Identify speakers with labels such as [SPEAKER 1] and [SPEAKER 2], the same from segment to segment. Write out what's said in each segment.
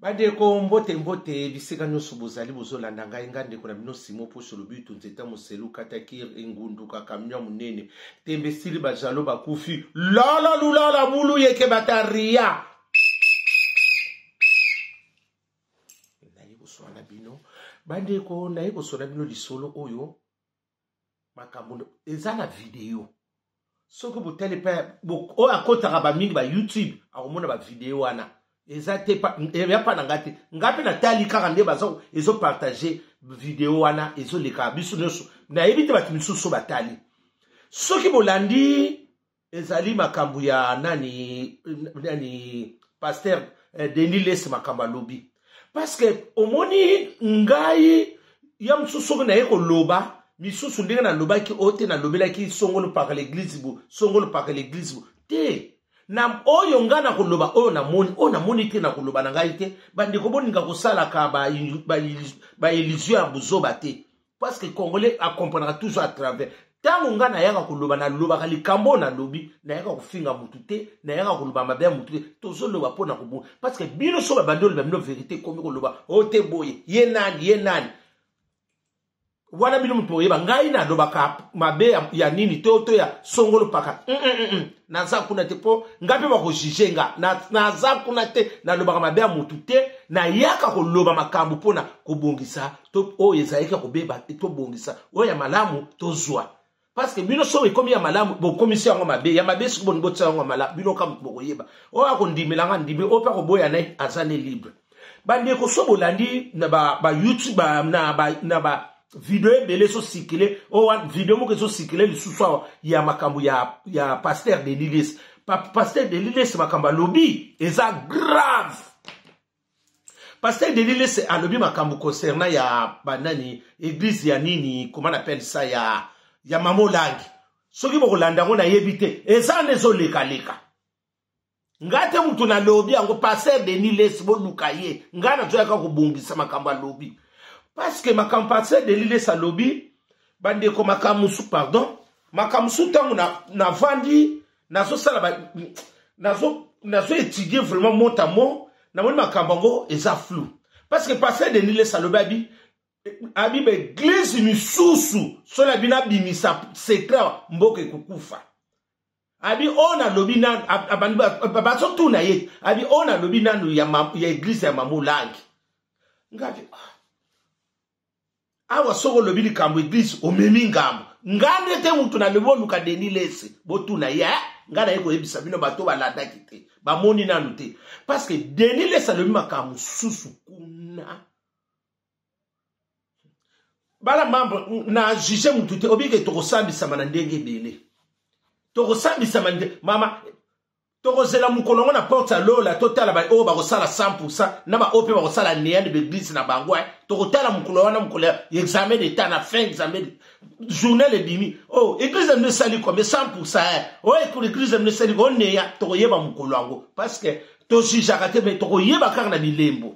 [SPEAKER 1] bandeko mbote mbote bisika nyonso bozali bozolanda ngai ngai ndeko na bino simo poso lobitu nzeta moselu katakir engunduka kamio monene tembe esili bajalo bakufi lala lulala bulu yeke bataria naye koswana bino bandeko naye koswana bino lisolo oyo makambo eza na video soki botali mpe oyo akotaka bamingi ba youtube akomona bavideo wana eza te eya mpa na ngai te ngai mpe natali kaka nde baza ezopartage video wana ezoleka biso nyonso nayebi te bato misusu batali soki bolandi ezali makambo ya nani nani pasteur eh, denis les makambo alobi parceke omoni ngai ya mosusu soki naye koloba misusu ndenge nalobaki oyo te nalobelaki songolo paka leglize bo songolo paka leglize bo te na oyo ngai nakoloba oyo namoni oyo namoni te nakoloba na ngai te bandeko boninga kosalaka baillusion ya buzoba te parce que congolais akomprenaka toujours à travers ntango ngai nayaka koloba nalobaka likambo oyo nalobi nayaka kofinga motu te nayaka koloba mabe ya motu te tozoloba mpo na kobonga parce que bino so babandi oloba bino verité ekomi koloba o oh, te boye ye nani ye nani wana bino moto boyeba ngai nalobaka mabe ya nini to to ya songolo paka mm, mm, mm, naza kuna te mpo ngai mpe bakojuge nga naza kuna te nalobaka mabe ya motu te nayaka koloba makambo mpo na kobongisa to oyo ezalaki ya kobeba tobongisa oyo ya malamu tozwa parceke bino soki ekomi ya malamu bokomisi yango mabe ya mabe soki bolingi botia yango malamu bino kaka moto bokoyeba oyo akondimela nga ndimi oyo mpe akoboya na ye aza ne libre bandeko so bolandi na bayoutube ba, na ba, na ba video ebele ezosikile oyo oh, video moko ezosikile lisusu awa ya makambo ya, ya paster delilis paster delilis makambo alobi eza grave Pasteur Denis Lesse alobi makambo concernant ya banani église ya nini comment on appelle ça ya ya mama olangi soki bokolanda yango nayebi te eza nde ezolekaleka ngai te moto nalobi yango pasteur Denis Lesse boluka ye ngai nazoyaka kobongisa makambo alobi parceke makambo pasteur Denis Lesse alobi bandeko makambo mosusu pardon makambo mosusu ntango navandi na nazosala ba nazo nazo étudier vraiment mot à mot namoni makambo yango eza flou parce que pasteur denis lesa alobi abi abi baeglize misusu soki abi nabimisa secret mboka ekokufa abi oyo nalobi nanu bazotuna ye abi oyo nalobi nanu ya eglize ya mamu langi ngabi ah. awa soki olobi likambo eglise omemi ngambo nga nde te motu nalobi oluka deni lese botuna ye eh? nga naye koyebisa bino bato balandaki te bamoni nanu te parceke deni lese alobi makambo mosusu kuna bala mambo na juge motu te obike tokosambisama na ndenge ebele tokosambisama mama tokozela mokolo yango na porte ya lola totala baoyo oh, bakosala 100 na baoyo mpe bakosala neani baeglise na bango eh. tokotala mokolo wana mokolo ya examen d'etat na fin examen journal ebimi o oh, eglise ya mino esali kome 100 eh. oyo ekolo eglise ya mino esali ko oneya tokoyeba mokolo yango parce que tojugeaka te mai tokoyeba kaka na bilembo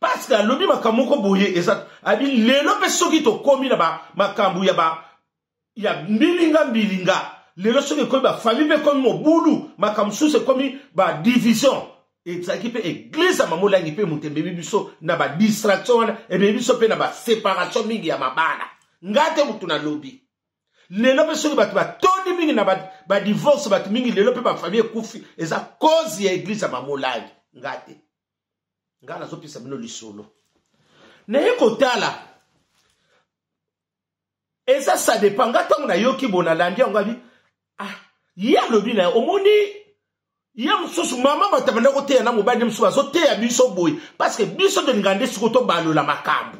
[SPEAKER 1] parce que alobi makambo moko boye eza abi lelo mpe soki tokomi na makambo ya ba ya mbilinga mbilinga lelo soki ekomi bafamille mpe ekomi mobulu makambo mosusu ekomi badivision ezalaki mpe eglize ya mamolangi mpe moto emebi biso na badistraction wana emebi biso mpe na baseparation mingi ya mabala ngai te motu nalobi lelo mpe soki bato batondi mingi na badivorce bato mingi lelo mpe bafamille ekufi eza cause ya eglize ya mamolangi ngai te ngai nazopesa bino lisolo naye kotala eza sa dépend nga ntango nayoki bo nalandi yango abi ah ye alobi na ye omoni ye mosusu mama bato banda koteya na mobali mosusu bazoteya biso boye parceke biso tolinga nde siko tobalola makambo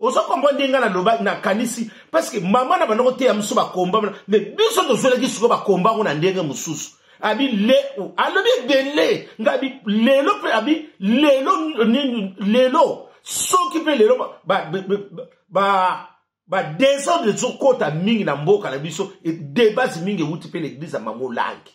[SPEAKER 1] ozo comprendre ndenge ngai naloba nakanisi parce que mama na banda koteya biso bakomba mais biso tozwelaki sikoyo bakomba yango na ndenge mosusu abi le alobi ebele nga abi lelo mpe abi lelo nini lelo soki mpe lelo badesordre ezokota mingi na mboka na biso debase mingi ewuti mpe na eglize ya mamolangi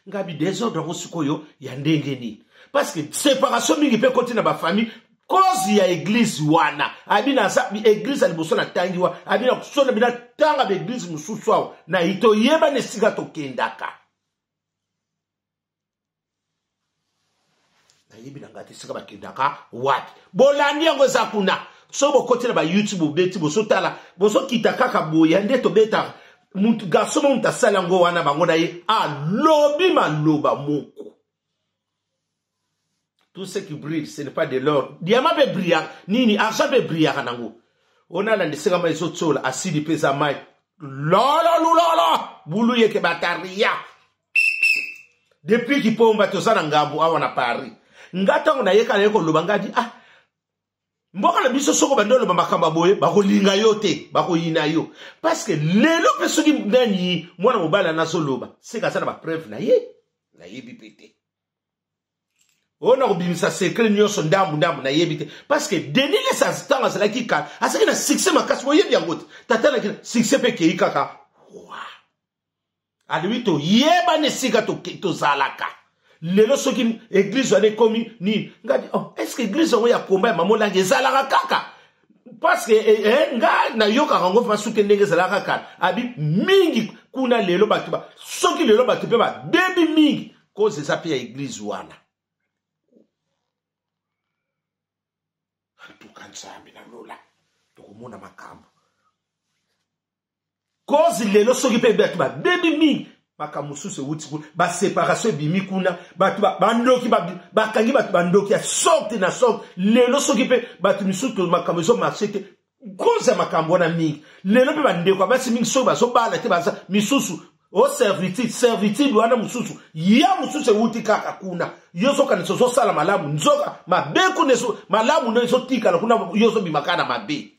[SPEAKER 1] nga bi desordre yango sikoyo ya ndenge nini parce que séparation mingi mpe ekoti na bafamille cause ya eglise wana abi naza eglise ya liboso natangi wa abi nakusona bina tanga baeglise mosusu awa na toyebana esika tokendaka nayebi na ngai te esika bakendaka wapi bolandi yango eza kuna so bokoti na bayoutube bobeti bosotala bosokita kaka boya nde tobetaka mutu garso mo moto asali yango wana bango na ye alobi maloba moko tout ce qui brille ce n'est pas de l'or diama mpe brillaka nini argent mpe brillaka nango ona alanda esika mai ezotiola asidi mpe eza mai lololulolo bulu yeke bataria depuis kipomba toza na ngambo awa na paris nga ntango nayeka naye koloba nga di ah mboka na biso soko bandi oloba makambo boye bakolinga yo te bakoyina yo parceke lelo mpe soki nani mwana mobali ana azoloba seka aza na bapreuve na ye nayebi mpe te oyo na kobimisa sekre nyonso ndambu ndambu nayebi te parceke denis lesa ntango azalaki kala azalaki na succès makasi oyebi yango te tata na succès mpe ekei kaka wa alobi toyebani esika tozalaka to lelo soki eglize wana ekomi nini ngadi oh, estce eglize yango ya komba ya mama olangi ezalaka kaka parceke eh, eh, nga nayokaka yango mpa suki ndenge ezalaka kala abi mingi kuna lelo bato ba soki lelo bato mpe babebi mingi koze eza mpe ya eglize wana antuka nzambe na lola tokomona makambo kozi lelo soki mpe bato babebi mingi makambo mosusu ewuti kuna baseparation ebimi kuna bato bandoki bakangi bato bandoki ya sorte na sorte lelo soki mpe bato misusu makambo ezo marche te koza makambo wana mingi lelo mpe bandeko ya basi mingi soki bazobala te baza misusu o oh, servitude servitude wana mosusu ya mosusu ewuti kaka kuna yo ozokanisa ozosala malamu nzoka mabe kuna malamu nde ezotikala kuna yo ozobima kaka na mabe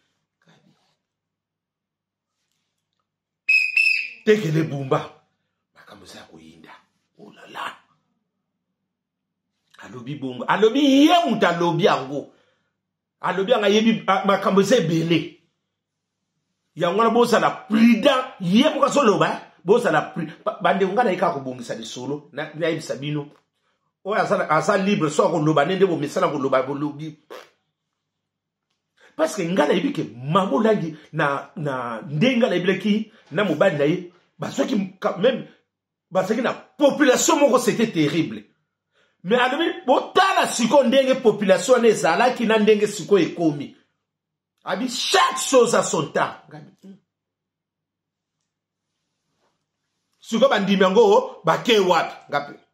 [SPEAKER 1] tekele bumba makambo eza ya koyinda olala oh alobi bongo alobi ye moto alobi yango alobi yango ayebi makambo eza ebele yango wana bozala prudent ye moko azoloba eh? bozala bandeko ngai naye kaka kobongisa lisolo nayebisa bino oyo aza libre so akoloba nde nde bomesana koloba bolobi parce que ngai nayebi ke mama olangi na, na nde ngai nayebelaki na mobali na ye bazwaki même bazalaki na population moko c'était terrible mais alobi botala sikoyo ndenge population wana ezalaki na ndenge sikoyo ekomi abi chaque chose à son temps hmm. sikoyo bandimi yango oh, bakei wapi ngape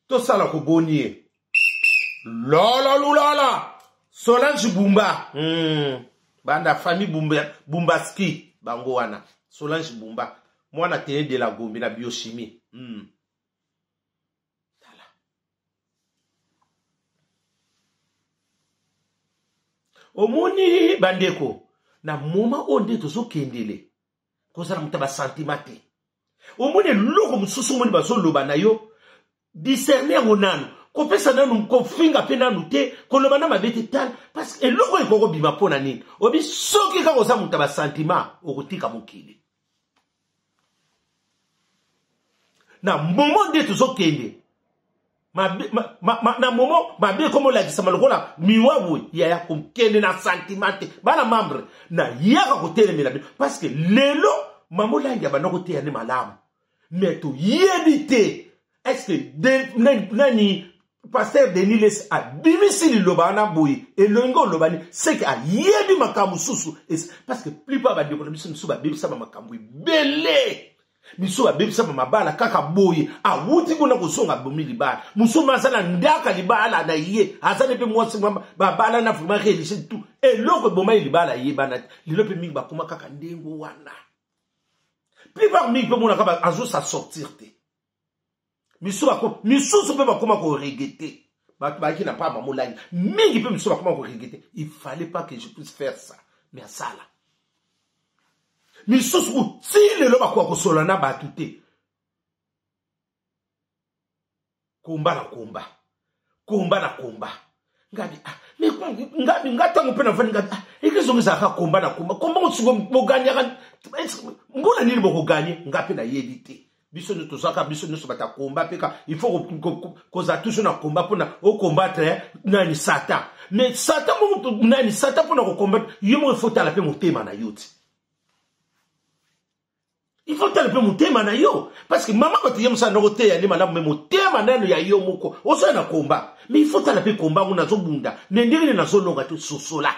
[SPEAKER 1] tosala ko bonie lolo lulala solange bumba mm. banda famille bumba, bumbaski bango wana solange bumba mwana tene de la gombe na biochimie mm. omoni bandeko na moma oyo nde tozokendele kozala moto ya basentiment te omoni eloko mosusu omoni bazoloba na yo discerne yango nanu kopesa nanu kofinga mpe nanu te koloba na mabe te tala parce eloko oyo ekoki kobima mpo na nini obi soki kaka oza moto ya basentiment okotika mokili na momo nde tozokende mabe ma, ma, ma, na momo mabe ekomi olakisama lokola miwa boye yaya kokende na santima te bana membre nayaka kotelemela bino parce que lelo mama olangi abanda koteya nde malamu me toyebi te estce nani paster denis les abimisi liloba wana boye elongi olobani seke ayebi makambo mosusu parce que plupart bandeko na biso mosusu babebisama makambo ebele biso babebisama mabala kaka boye awuti kuna kozonga abomi libala mosusu aza na ndaka libala na ye aza ne mpe mwasi babala na vraimen relise tu eloko ebomai libala ayebana te lelo mpe mingi bakoma kaka ndenge wana plupart mingi mpe monaka azosassortir te misusu mpe bakoma koregete bato bayaki na pamba molangi mingi mpe misusu bakoma koregete il fallait pas que je puisse faire ça mais asala misusu kutii lelo bakoka kosolola na bato te komba na komba komba na komba ngabi ah, ngabi nga ntango mpe navandi ngabi ah, eklezio ngo ezalaka komba na komba komba mosuko boganyaka mbula nini bokoganye nga mpe nayebi te biso nde tozalaka biso nyonso bata komba mpe ka il faut kozala toujours na komba mpona okombatre eh, nani satan mais satan moko nani satan mpona kokombatre yo moko efotala mpe motema na yo ti il faut tala mpe motema na yo parce que mama bato ye mosala noko teya nde malamu me motema nano ya yo moko ozoya na komba me il faut tala mpe komba yango nazobunda me ndenge nde nazolonga te sosola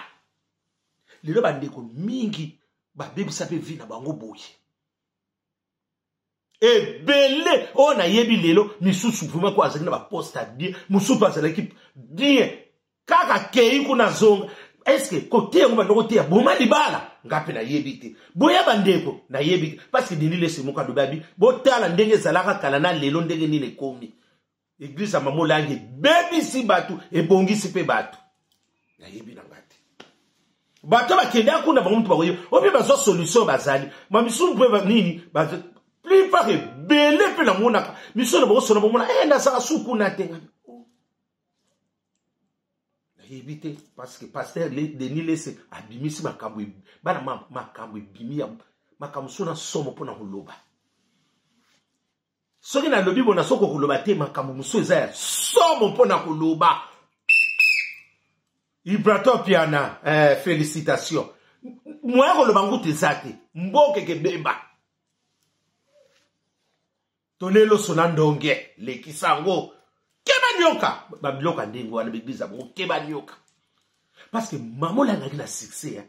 [SPEAKER 1] lelo bandeko mingi babebisa mpe vi na bango boye ebele oyo nayebi lelo misusu vraimen ko azalaki na baposte ya bien mosusu azalaki bien kaka kei kuna zonga eske koteya yango bandoko teya boma libala nga mpe nayebi te boya bandeko nayebi te parce que denis lese moko alobi abi botala ndenge ezalaka kala na lelo ndenge nini ekomi eglize ya mama olangi ebebisi bato ebongisi mpe bato nayebi na nga te bato bakendaka kuna bango moto bakoyebi o mpe bazwa solution bazali ma misusu mpe nini plupart ebele mpe namonaka miso na bango sona bomona e eh, nazala su kuna te nayebi te parceke paster denis lese abimisi makambo e-, bana makambo ebimi ya makambo so na somo mpo na koloba soki nalobi bona soko koloba te makambo mosusu eza ya somo mpo na koloba ibratopiana eh, félicitation moya koloba ngutu eza te mbokeke beba tole loso na ndonge lekisa yango keba nioka babiloko ya ndenge wana baeglize ya bango keba nioka parce que mama olangaki na succès ya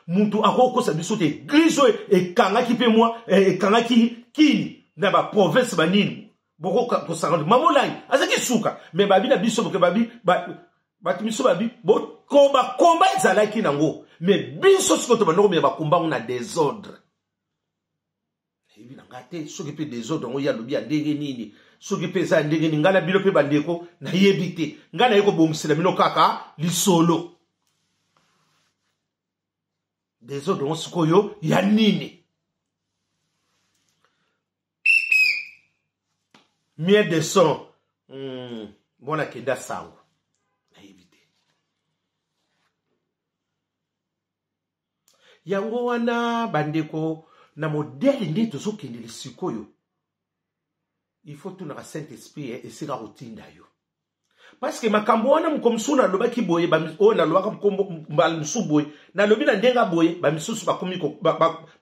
[SPEAKER 1] moto akokosa biso te eglize oyo ekangaki mpe mwa eh, ekangaki kini na baprovince banini bokokosanga mama olangi azalaki suka me babi na biso boke babi bato biso babi bakomba ezalaki nango me biso sikoyo tobanda komela bakomba yango na desordre nayebi na ngai te soki mpe desordre yango ye alobi ya ndenge nini soki mpe eza ya ndenge nini ngai na bino mpe bandeko nayebi te ngai naye kobongisela bino kaka lisolo desordre yango sikoyo ya nini mie de son mm, mwana kenda sango yango wana bandeko na modele nde tozokendele sikoyo il faut tunaka saint esprit eh, esika kotinda yo parceke makambo wana moko mosusu nalobaki boye oyo nalobaka mbala mosusu boye nalobi na ndenge boye bamisusu bakomi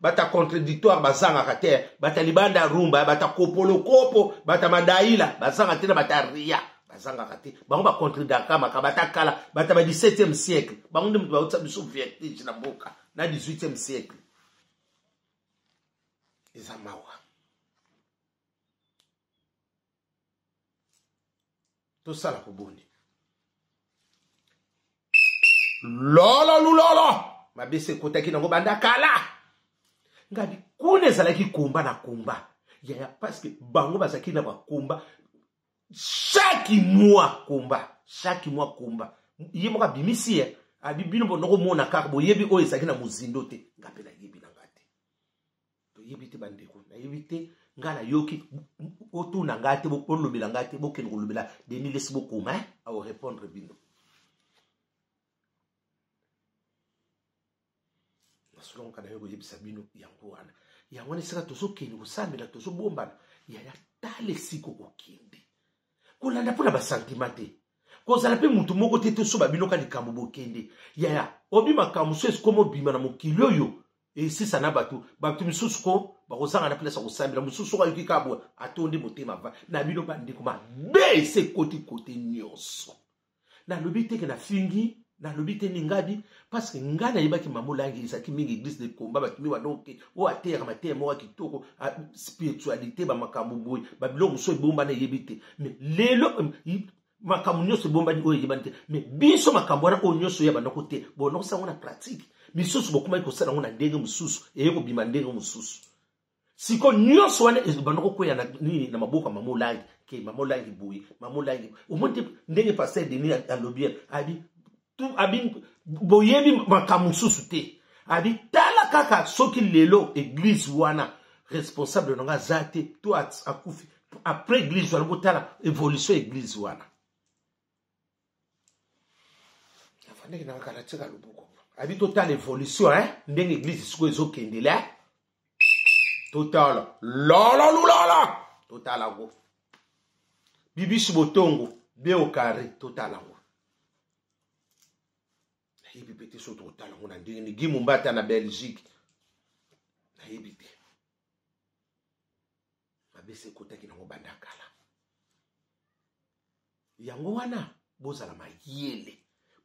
[SPEAKER 1] bata contradictoire bazangaka te bata libanda rumba bata kopolokopo bata madaila bazanga te na bata ria bazangaka te bango bacontredaka makaba ata kala bata ba 17e siècle bango nde moto bautisa biso vertige na mboka na 18e siècle eza mawa tosala koboni lolo lulolo mabe se ekotaki nango banda kala ngai kuna ezalaki komba na komba yaya parceke bango bazalaki na bakomba chaque mois combat chaque mois combat ye moko abimisi ye abi bino bonokomona kaka boyebi oyo ezalaki na mozindo te nga mpe nayebi na nga te toyebi te bandeko nayebi te nga nayoki otuna nga te bolobela nga te bokende kolobela denis lesi bokoma eh? aorepondre bino nasola ngo kana yo koyebisa bino yango wana yango wana esika tozokende kosambela tozobombana yaya tala esika okokende kolanda mpo na basantima te kozala mpe motu moko te tosoba bino ka likambo bokende yaya obi makambo mosusu esikoma obima na mokili oyo esisa na bato bato misusu ko bakozanga na place ya kosambela mosusu soko ayoki kabwa atondi motema va na bino bandeko mabe ese ekoti kote nyonso nalobi te ke nafingi nalobi te mingadi parce que ngai nayebaki mama olangi ezalaki mingi église de combat bato mi wana oke oyo ateyaka mateya moko ya kitoko spiritualité bamakambo boye babiloko mosusu ebombana eyebi te mais lelo makambo nyonso ebombani oyo eyebani te mais biso makambo wana oyo nyonso oyebana ko te bonokosa yango na pratique misusu bokomaki kosala yango na ndenge mosusu eye kobima ndenge mosusu siko nyonso wana ezobanda kokwea na nini na maboko ya mama olangi ke mama olangi boye mama olangi omoni te ndenge paster deni alobi abi abi boyebi makambo mosusu te abi tala kaka soki lelo eglize wana responsable na nga aza te to akufi après eglize wana botala évolution ya eglize wana afandaki na kala tika loboko abi totala evolution hein ndenge eglise sikoyo ezokendele hein totala lala lulala totala ngo bibishi botongo beokare totala ngo nayebi mpe te so totala ngo na ndenge ni gi mombata na belgique nayebi te mabese ekotaki nango banda kala yango wana bozala mayele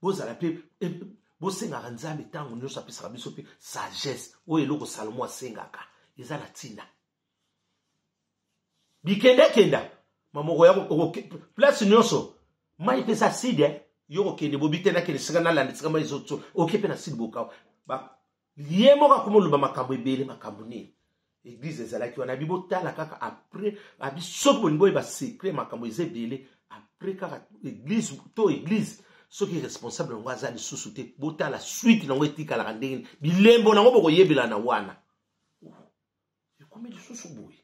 [SPEAKER 1] bozala mpe eh, bosengaka nzambe ntango nyonso apesaka biso mpe sagesse oyo eloko salomo asengaka eza na ntina bikendakenda mamoko ya place nyonso mai mpe eza side eh. yo kokende bobikendakende sika nalanda sika mai ezoso oke mpe na side bokawa ye moko akoma oloba makambo ebele makambo nini eglize ezalaki wana abi botala kaka apres abi soki bolingi boyeba secret makambo eza ebele apres kaka eglize to eglize soki responsable yango aza lisusu te botala suite nango etikalaka ndenge nini bilembo nango bokoyebela na wana ekomi lisusu boye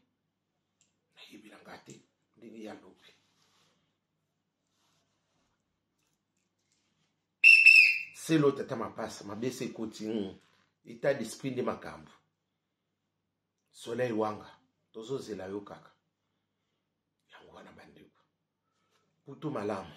[SPEAKER 1] nayebela nga te ndenge ya lobi selo tata mapasa mabe se ekoti hmm. etat d'esprit nde makambo soleil wanga tozozela yo kaka yango wana bandeko putu malamu